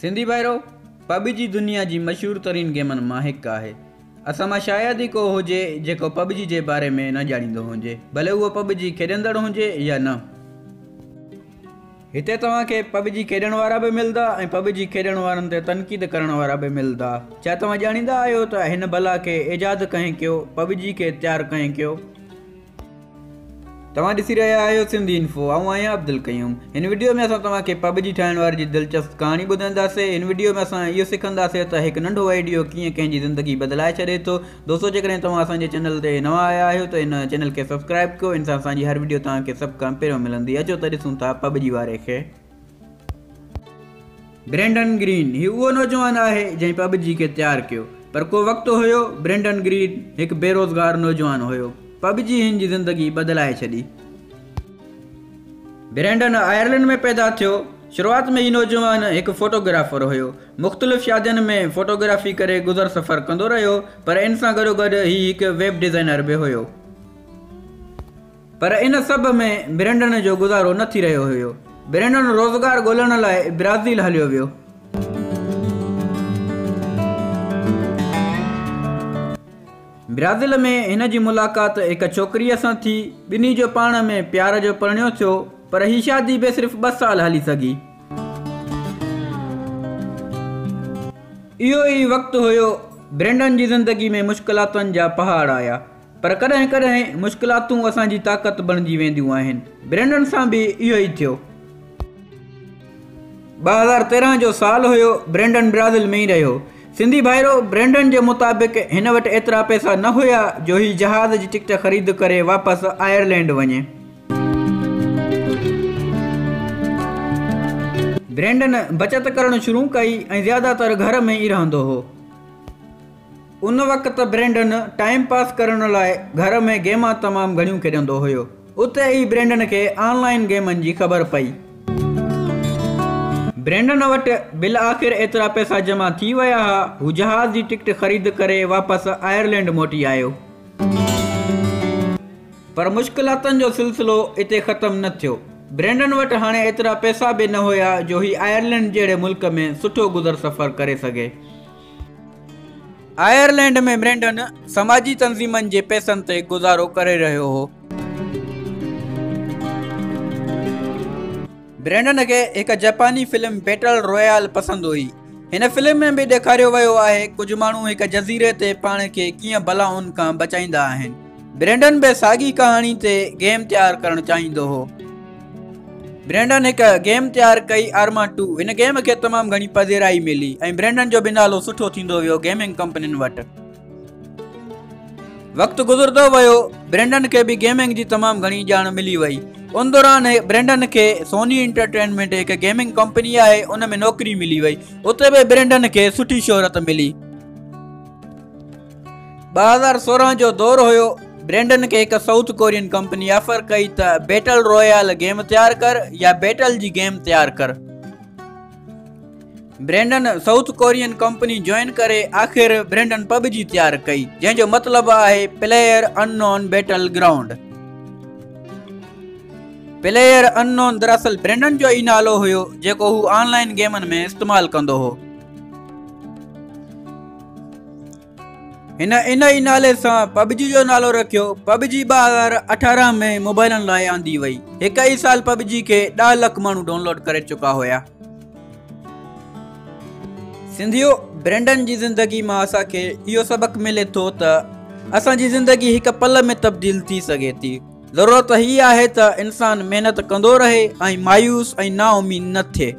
سنڌي ڀائرو! PUBG دنيا جي مشهور ترين گيمن مان هڪ آهي. اسان مان شايد ئي ڪو هجي جيڪو پب جي جي باري ۾ نه ڄاڻيندو هونجي ڀلي اهو پب جي کيڏندڙ هونجي يا نه. هتي توهان کي پب جي کيڏڻ وارا به ملدا ۽ پب جي کيڏڻ وارن تي تنقيد ڪرڻ وارا به ملدا. ڇا توهان ڄاڻيندا آهيو ته هن بلا کي ايجاد ڪنهن ڪيو، پب جي کي تيار ڪنهن ڪيو؟ توهان ڏسي رهيا آهيو سنڌي انفو آئون آهيان عبدالقيوم هن وڊيو ۾ اسان توهان کي پب جي ٺاهڻ واري جي دلچسپ ڪهاڻي ٻڌائينداسي هن وڊيو ۾ اسان اهو سکنداسي ته هڪ ننڍو وئيڊيو ڪيئن ڪنهن جي زندگي بدلائي ڇڏي ٿو دوستو جيڪڏهن توهان اسان جي چينل تي نوان آيا آهيو ته هن چينل کي سبسڪرائب ڪيو ان سان اسان جي هر وڊيو توهان کي سڀ کان پهريون ملندي اچو ته ڏسون ٿا پب جي واري کي برينڊن گرين هي اهو نوجوان آهي جنهن پب جي کي تيار ڪيو پر ڪو وقت هيو برينڊن گرين هڪ بيروزگار نوجوان هيو پب جي هن جي زندگي بدلائي ڇڏي برينڊن آئرلنڊ ۾ پيدا ٿيو شروعات ۾ هي نوجوان هڪ فوٽوگرافر هيو مختلف شادين ۾ فوٽوگرافي ڪري گذر سفر ڪندو رهيو پر ان سان گڏوگڏ هي هڪ ويب ڊيزائنر به هيو پر ان سڀ ۾ برينڊن جو گذارو نه ٿي رهيو هيو. برينڊن روزگار ڳولڻ لاء برازيل هليو ويو. برازيل ۾ هن جي ملاقات هڪ ڇوڪريء سان ٿي. ٻنهي جو پاڻ ۾ پيار جو پرڻيو ٿيو. پر هي شادي به صرف ٻه سال هلي سگهي. اهو ئي وقت هيو، برينڊن جي زندگي ۾ مشڪلاتن جا پهاڙ آيا. پر ڪڏهن ڪڏهن مشڪلاتون اسان جي طاقت بڻجي وينديون آهن. برينڊن سان به اهو ئي ٿيو. ٻه هزار تيرهن جو سال هيو، برينڊن برازيل ۾ ئي رهيو. سنڌي ڀائرو، برينڊن جي مطابق هن وٽ ايترا پئسا نه هيا جو هي جهاز جي ٽڪٽ خريد ڪري واپس آئرلينڊ وڃي. برينڊن بچت ڪرڻ شروع ڪئي ۽ زياده تر گهر ۾ ئي رهندو هو. ان وقت برينڊن ٽائيم پاس ڪرڻ لاء گهر ۾ گيما تمام گهڻيون کيڏندو هيو. اتي ئي برينڊن کي آن لائين گيمن جي خبر پئي. برينڊن وٽ بالآخر ايترا پئسا جمع ٿي ويا ها. هو جهاز جي ٽڪٽ خريد ڪري واپس آئرلينڊ موٽي آيو. پر مشڪلاتن جو سلسلو اتي ختم نه ٿيو. برينڊن وٽ هاڻي ايترا پئسا به نه هيا جو هي آئرلينڊ جهڙي ملڪ ۾ سٺو گذر سفر ڪري سگهي. آئرلينڊ ۾ برينڊن سماجي تنظيمن جي پيسن تي گذارو ڪري رهيو هو. برينڊن کي هڪ جپاني فلم بيٽل رويال پسند هئي. هن فلم ۾ به ڏيکاريو ويو آهي ڪجهه ماڻهو هڪ جزيري تي پاڻ کي ڪيئن بلائن کان بچائيندا آهن. برينڊن به ساڳي ڪهاڻي تي گيم تيار ڪرڻ چاهيندو هو برينڊن هڪ گيم تيار ڪئي آرما ٽو هن گيم کي تمام گهڻي پذيرائي ملي ۽ برينڊن جو به نالو سٺو ٿيندو ويو گيمنگ ڪمپنين وٽ وقت گذرندو ويو برينڊن کي به گيمنگ جي تمام گهڻي ڄاڻ ملي وئي ان دوران برينڊن کي سوني انٽرٽينمينٽ هڪ گيمنگ ڪمپني آهي ان ۾ نوڪري ملي وئي اتي به برينڊن کي سٺي شهرت ملي ٻه هزار سورهن جو دور هيو برينڊن کي هڪ سائوٿ ڪورين ڪمپني آفر ڪئي ته بيٽل رويال گيم تيار ڪر يا بيٽل جي گيم تيار ڪر Brendan South Korean company join ڪري آخر برينڊن پب جي تيار ڪئي جنهن جو مطلب آهي player unknown battle ground player unknown دراصل برينڊن جو ئي نالو هيو جيڪو هو آن لائن گيمن ۾ استعمال ڪندو هو هن ان ئي نالي سان پبجي جو نالو رکيو پبجي ٻه هزار اٺارهن ۾ موبائلن لاء آندي وئي هڪ ئي سال پبجي کي ڏهه لک ماڻهو ڊائونلوڊ ڪري چڪا هيا سنڌيو برينڊن جي زندگي مان اسان کي اهو سبق ملي ٿو ته اسان جي زندگي هڪ پل ۾ تبديل ٿي سگهي ٿي ضرورت هي آهي ته انسان محنت ڪندو رهي ۽ مايوس ۽ نا اميد نه ٿئي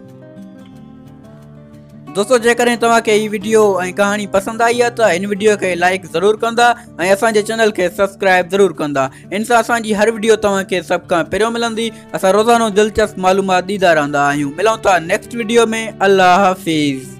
دوستو جيڪڏهن توهان کي هي ويڊيو ۽ ڪهاڻي پسند آئي آهي ته هن ويڊيو کي لائڪ ضرور ڪندا ۽ اسان جي چينل کي سبسڪرائب ضرور ڪندا ان سان اسان جي هر ويڊيو توهان کي سڀ کان پهريون ملندي اسان روزانو دلچسپ معلومات ڏيندا رهندا آهيون ملون ٿا نيڪسٽ ويڊيو ۾ الله حافظ